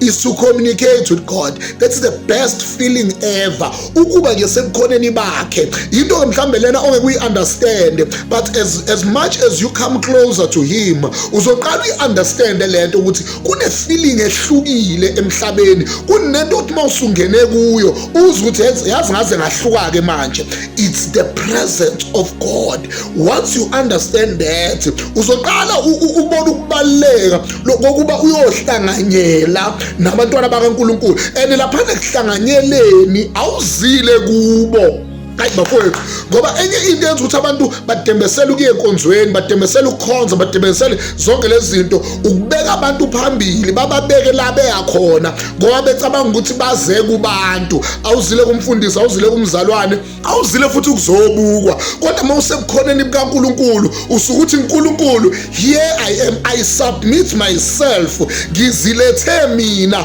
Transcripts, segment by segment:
is to communicate with God that's the best feeling ever ukuba nje sebukhoneni bakhe yinto ke mhlawumbe lena ongeke uyi-understande but as, as much as you come closer to him uzoqala uyi-understande le nto ukuthi kune-feeling ehlukile emhlabeni kunento ukuthi uma usungene kuyo uze ukuthi yazi ngaze ngahluka-ke manje it's the presence of god once you understand that uzoqala ubona ukubaluleka lokokuba uyohlanganyela nabantwana bakankulunkulu and laphana ekuhlanganyeleni awuzile kubo hayi bafowethu ngoba enye into yenza ukuthi abantu badembesele ukuye enkonzweni badembesele ukukhonza badembesele zonke lezi zinto ukubeka abantu phambili bababeke la beya khona ngoba becabanga ukuthi baze kubantu awuzile kumfundisi awuzile kumzalwane awuzile futhi ukuzobukwa kodwa uma usebukhoneni bukaNkuluNkulu usuke uthi uNkuluNkulu here i am i submit myself ngizilethe mina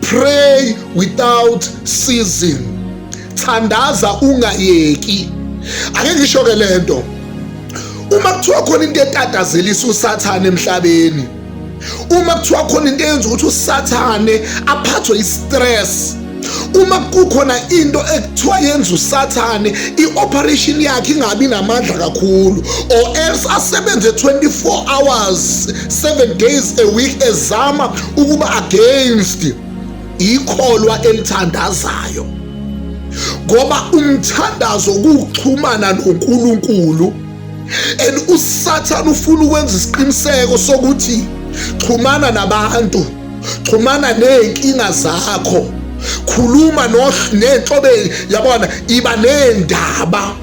Pray without ceasing. Thandaza ungayeki. Ake ngisho ke lento. Uma kuthiwa khona into etatazelisa uSathane emhlabeni, uma kuthiwa khona into eyenza ukuthi uSathane aphathwe i-stress uma kukhona into ekuthiwa yenza usathane i-operation yakhe ingabi namandla kakhulu or else asebenze 24 hours 7 days a week ezama ukuba against ikholwa elithandazayo ngoba umthandazo kuxhumana noNkulunkulu and usathana ufuna ukwenza isiqiniseko sokuthi xhumana nabantu xhumana nezinkinga zakho khuluma nenhlobe yabona iba nendaba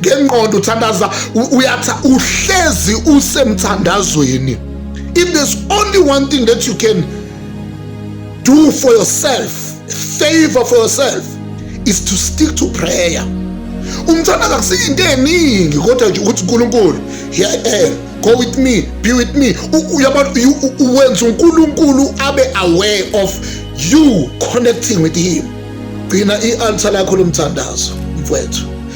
ngengqondo uthandaza uyatha uhlezi usemthandazweni if there's only one thing that you can do for yourself favor for yourself is to stick to prayer umthandazo akusiyo into eningi kodwa nje ukuthi uNkulunkulu here I am go with me be with me uyabona uwenza uNkulunkulu abe aware of you connecting with him gcina i-altar lakho lomthandazo mfowethu